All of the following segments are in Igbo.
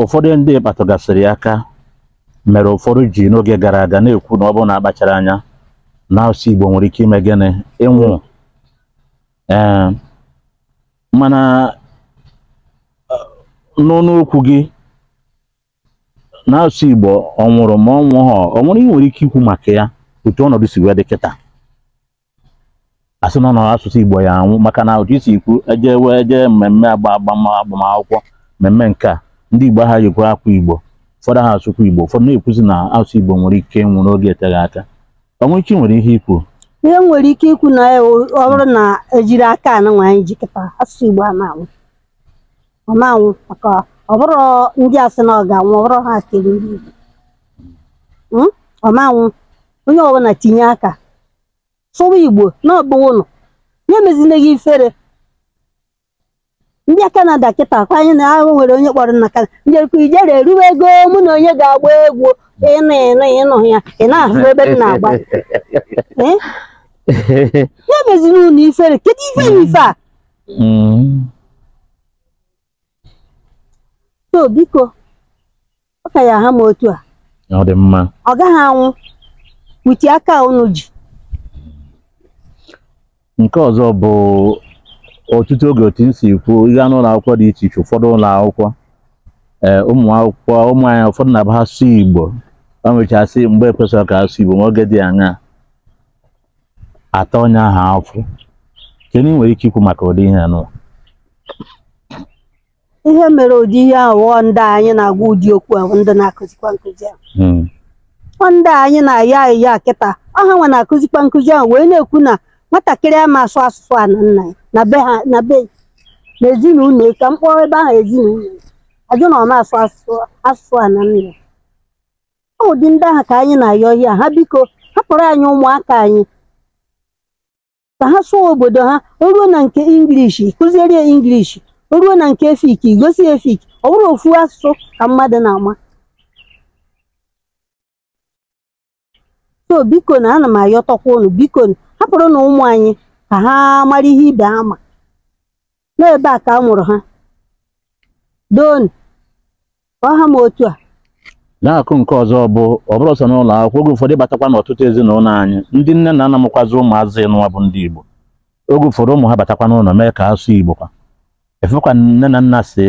ụfọdụ ndị kpatụgasịrị ya aka mere ụfọdụ ji n'oge gara aga na-ekwu na ọ bụrụ na akpachara anya na asụsụ Igbo nwere ike ime gịnị ịnwụ ee mana n'ọnụ okwu gị n'asụsụ Igbo ọ nwụrụ ma ọ nwụghọ o nwere ihe i nwere ike ikwu maka ya otu ọnọdụ si wee dị kịta asị na ọnọdụ asụsụ Igbo ya anwụ maka na otu i si kwu eje wee jee mmemme agba agbamakwụkwọ mmemme nke a ndị Igbo ha yikwa akwa Igbo ụfọdụ ha asụkwa Igbo ụfọdụ na-ekwuzi na asụsụ Igbo nwere ike ịnwụ n'oge eteghị aka ọ nwere ike nwere ihe ikwu ihe i nwere ike ikwu na ọ bụrụ na ejiri aka anụnwa anyị jikọta asụsụ Igbo a na-anwụ ọ ma-anwụ maka ọ bụrọ ndị a sị na ọ ga-anwụ ọ bụrọ ha kere ndị Igbo Mm? ọ ma-anwụ onye ọbụla tinye aka sụwa Igbo na ọgbụwa ụnụ ya emezina gị ifere ndị Kanada kịta kwa anyị na ahụ nwere onye kpọrọ na Kanada ndị ekwu ijere eruwe ego mụ na onye ga-agba egwu ịnụ ịnụ ịnụ ya ị na-ahụ ebe m na-agba Eh? ya emezina unu ifere kedu ife na ife a Mm. so biko ọ ka ya ha m otu a ọ dị mma ọ gaghị anwụ with aka unu ji nke ọzọ bụ ọtụtụ oge otu m si kwu ị gaa n'ụlọ akwụkwọ dị iche iche ụfọdụ ụlọ akwụkwọ ee ụmụ akwụkwọ ụmụ anyị ụfọdụ na-abụ ha sụọ igbo ha nwechasị mgbe ekwesịrị ka ha sụọ igbo ma oge dị aṅaa a taa onye ahụ afụfụ kedu ihe i nwere ike ikwu maka ụdị ihe anụ ihe mere ụdị ihe ahụ ọ ndị anyị na-agwa ụdị okwu ahụ ndị na-akụzikwa nkụzi ahụ hmm. ọ ndị anyị na-ayọ ya kịta ọ hanwa na-akụzikwa nkụzi ahụ wee na-ekwu na nwatakịrị ama asụ asụsụ ana nna ya na be ha na be na ezinụlọ ka m kpọọ ebe ahụ ezinụlọ ajụ na ọ ma-asụ asụsụ ana nna ya ọ ụdị ndị ahụ ka anyị na-ayọ ọ hịa ha biko hapụrụ anyị ụmụaka anyị ka ha sụọ obodo ha o ruo na nke English kụziere ya English o ruo na nke Efik gosi ya Efik ọ bụrọ ofu asụsụ ka mmadụ na-ama so bikonụ ana m ayọtọkwa unu bikonụ hapụrụnụ ụmụ anyị ka ha mara ihe ibe ha ma n'ebe a ka a mụrụ ha donu ọ ha ma otu a na-akụ nke ọzọ bụ ọ bụrọ sọ n'ụlọ akwụkwọ oge ụfọdụ ị batakwa n'ọtụtụ ezinụlọ anyị ndị nne na nna mụkwazi ụmụazị nụwa bụ ndị Igbo oge ụfọdụ ụmụ ha batakwa n'ụlọ mee ka asụ Igbo kwa ị fụkwa nne na nna sị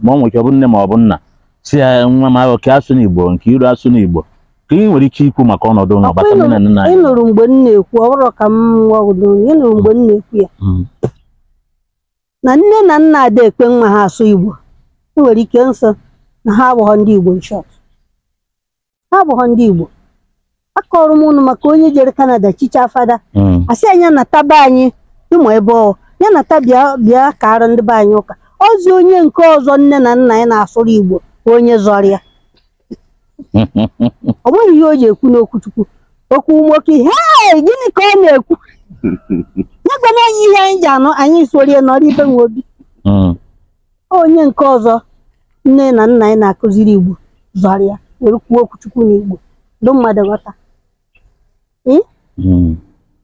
ma ọ nwere ike ọ bụ nne ma ọ bụ nna sị ya nwa m ahụ ka asụna Igbo nke iru asụna Igbo ka ị nwere ike ikwu maka ọnọdụ ụlọ gbata nne na nna anyị ị nụrụ mgbe m na-ekwu ọ bụrụ ka m nwa ọgụdụ ị nụrụ mgbe m na-ekwu ya Mm. na nne na nna ada ekwe nwa ha asụ Igbo e nwere ike ịsị na ha abụghọ ndị Igbo in short ha abụghọ ndị Igbo akọọrọ m ụnụ maka onye jere Kanada chichaa fada mm. a sị ya nya nataba anyị ịmụ ebe ọ ya nata bịa bịa kaarụ ndị be anyị ụka ozi onye nke ọzọ nne na nna ya na-asụrụ Igbo onye zọrọ ya ọ nweghị ihe o ji ekwu n'okwuchukwu okwu nwoke hei gịnị ka ọ na-ekwu ya gwanụ anyị ihe anyị ga-anụ anyị sorie nọrọ ibe nwe obi Mm. onye nke ọzọ nne na nna anyị na-akụziri igbo zọrọ ya were kwuo okwuchukwu na igbo ndị mmadụ ghọta Mm.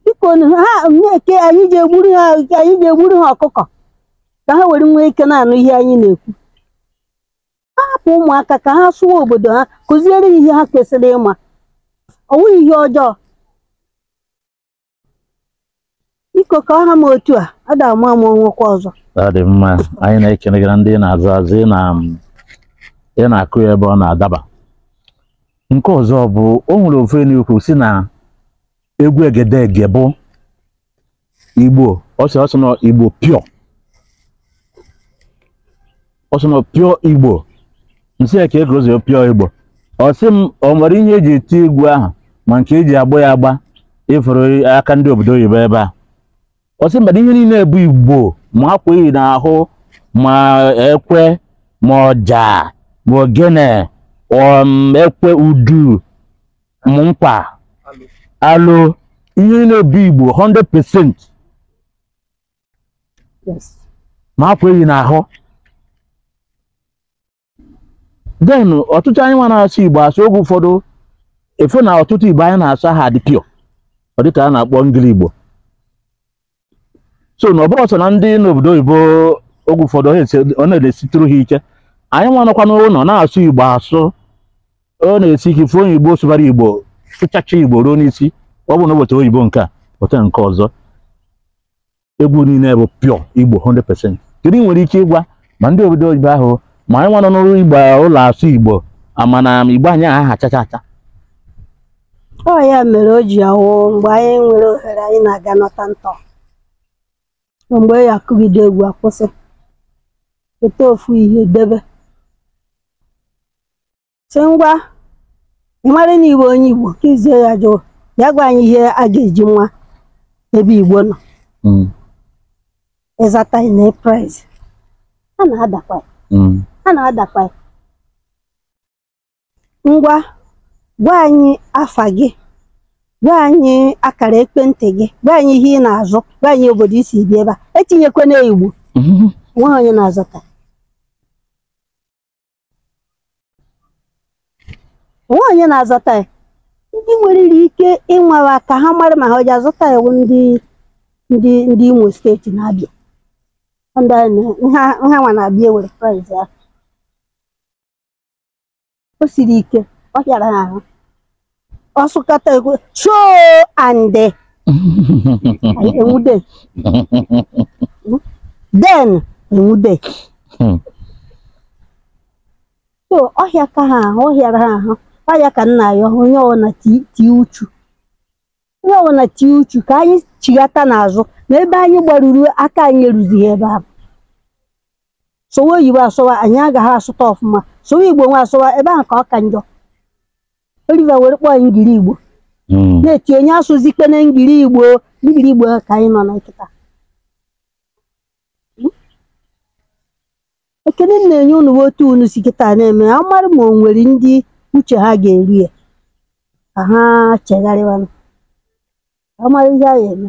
biko nu, ha na-eke anyị ji egburu ha anyị ji egburu ha ọkụkọ ka ha were nwee ike na-anụ ihe anyị na-ekwu ha hapụ ụmụaka ka ha sụwa obodo ha kụziere ihe ha kwesịrị ịma ọ wụghị ihe ọjọọ biko ka ọ ha m otu a a da ama ama o nwekwa ọzọ ọ dị mma anyị na-ekene gị na ndị ị na-aza aza ị na ị na-akụ ya ebe ọ na-adaba nke ọzọ bụ o nwere ofu ife ị na-ekwu sị na egwu egedege bụ igbo ọ sị ọ sị na ọ igbo pure ọ sị na ọ pure igbo m sị ya kee ka o si pure igbo ọ sị m o nwere ihe e ji eti egwu ahụ ma nke e ji agba ya agba ị fụrụ aka ndị obodo oyibo ebe a ọ sị mba na ihe niile bụ igbo ma akwa eyi n'ahụ ma ekwe ma ọja ma ogene um, ekwe udu ma nkwa alo ihe niile bụ igbo 100% Yes. ma akwa eyi n'ahụ then ọtụtụ anyị nwa na-asụ igbo asụ oge ụfọdụ ị fụ na ọtụtụ igbo anyị na-asụ aha adị pure ọ dịka a na-akpọ ngili igbo so na ọ bụrọ sọ na ndị n'obodo oyibo oge ụfọdụ ọ na-esi- ọ na-esitụrụ ha ike anyị nwa nọkwa n'ụlọ na-asụ igbo asụ ọ na-esi ike ịfụ onye igbo sụbara igbo sụchacha igbo ruo n'isi ọ bụ na ụbọchị oyibo nke a weta nke ọzọ egwu niile bụ pure igbo 100% kedu ị nwere ike ịgwa ma ndị obodo oyibo ahụ ma anyị nwa nọ n'ụlọ igbo ụlọ asụ igbo ama na igbo anyị aha achacha acha ọ ya mere o ji awụ mgbe anyị nwere ohere anyị na-aga nọta ntọ mgbe ọ ya-akụgide egwu akwụsị weta ofu ihe debe sị ngwa ị mara na ị wụ onye igbo ka izie ya jụụ ya gwa anyị ihe a ga-eji nwa ebe igbo nọ Mm, ị zata ị naa prize a na-adakwa ya, mm, a na-adakwa ya. ngwa gwa anyị afa gị gwa anyị akara ekwentị gị gwa anyị ihe ị na-azụ gwa anyị obodo i si bi ebe a etinyekwana igbo nweghị onye na-azata o nwee onye na-azata ya ndị nwerere ike ịnwara ka ha mara ma ha ọ ji azata ya bụ ndị ndị ndị imo steeti na-abịa ndị a na- nha nha nwa na-abịa ewere prize ya o siri ike ọ hịara ha ahụ ọ sụkọta ekwe choo ande anyị enwude den enwude Hmm. so ọ hịaka ha ahụ ọ hịara ha ahụ ọ hịaka nna ya onye ọbụla ti- tie uchu onye ọbụla tie uchu ka anyị chighata n'azụ na ebe anyị gbaruru aka anyị eruzighị ebe ahụ sụwa oyibo asụwa anyị agaghị asụta ọfụma sụwa igbo nwa asụwa ebe ahụ ka ọ ka njọ Oliver were kpọọ anyị ngiri igbo Mm. na-eti onye asụzikwana ngiri igbo ngiri igbo ka anyị nọ na kịta ekene m na-enye unu bụ otu unu si kịta na-eme ya mara ma o nwere ndị uche ha ga-eru ya ka ha chegharịwanụ ka ha mara ihe a ga-eme